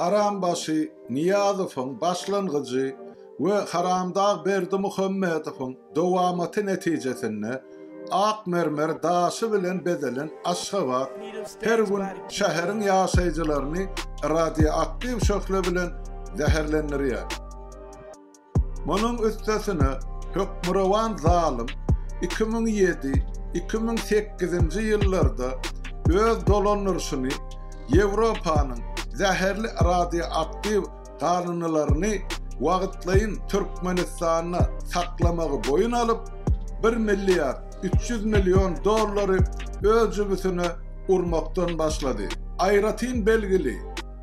Harambaşy Nyýazowyň başlangyjy we Haramdag Berdimuhamedowyň dowamaty netijesinde ak mermer daşy bilen bezelen Aşgabat her gün şäheriň ýaşaýjylaryny radioaktiw şöhle bilen zäherlendirýär. Munuň üstesine, hökmürowan zalym iki müň ýedi, iki müň sekizinji ýyllarda öz dolandyryşyny Ýewropanyň zäherli radioaktiw galyndylaryny wagtlaýyn Türkmenistanda saklamagy boýun alyp, bir milliard üç ýüz million dollary öz jübüsine urmakdan başlady. Aýratyn belgili,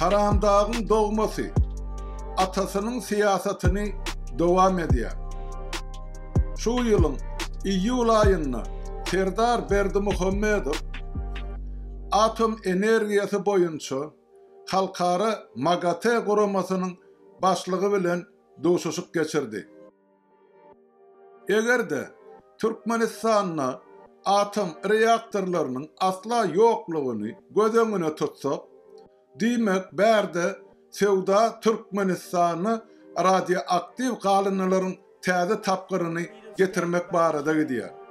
Haramdagyň dogmasy atasynyň syýasatyny dowam edýär. Şu ýylyň iýul aýynda Serdar Berdimuhamedow atom energiýasy boýunça halkara MAGATE guramasynyň başlygy bilen duşuşyk geçirdi. Eger-de Türkmenistanda atom reaktorlarynyň asla ýoklugyny göz öňüne tutsak, diýmek bärde söwda Türkmenistana radioaktiw galyndylaryň täze tapgyryny getirmek barada gidýär.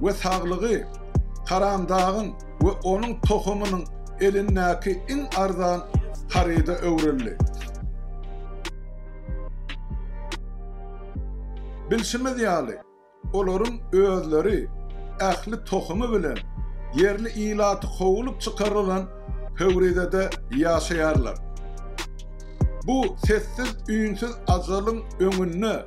we saglygy Tarandagyň we onuň tohumynyň elindäki iň arzan haryda öwrüldi. Bilşimiz ýaly, olaryň özleri ähli tohumy bilen ýerli ilaty kowulyp çykarylan Pöwrizede ýaşaýarlar. Bu sessiz-üýnsüz ajalyň öňünde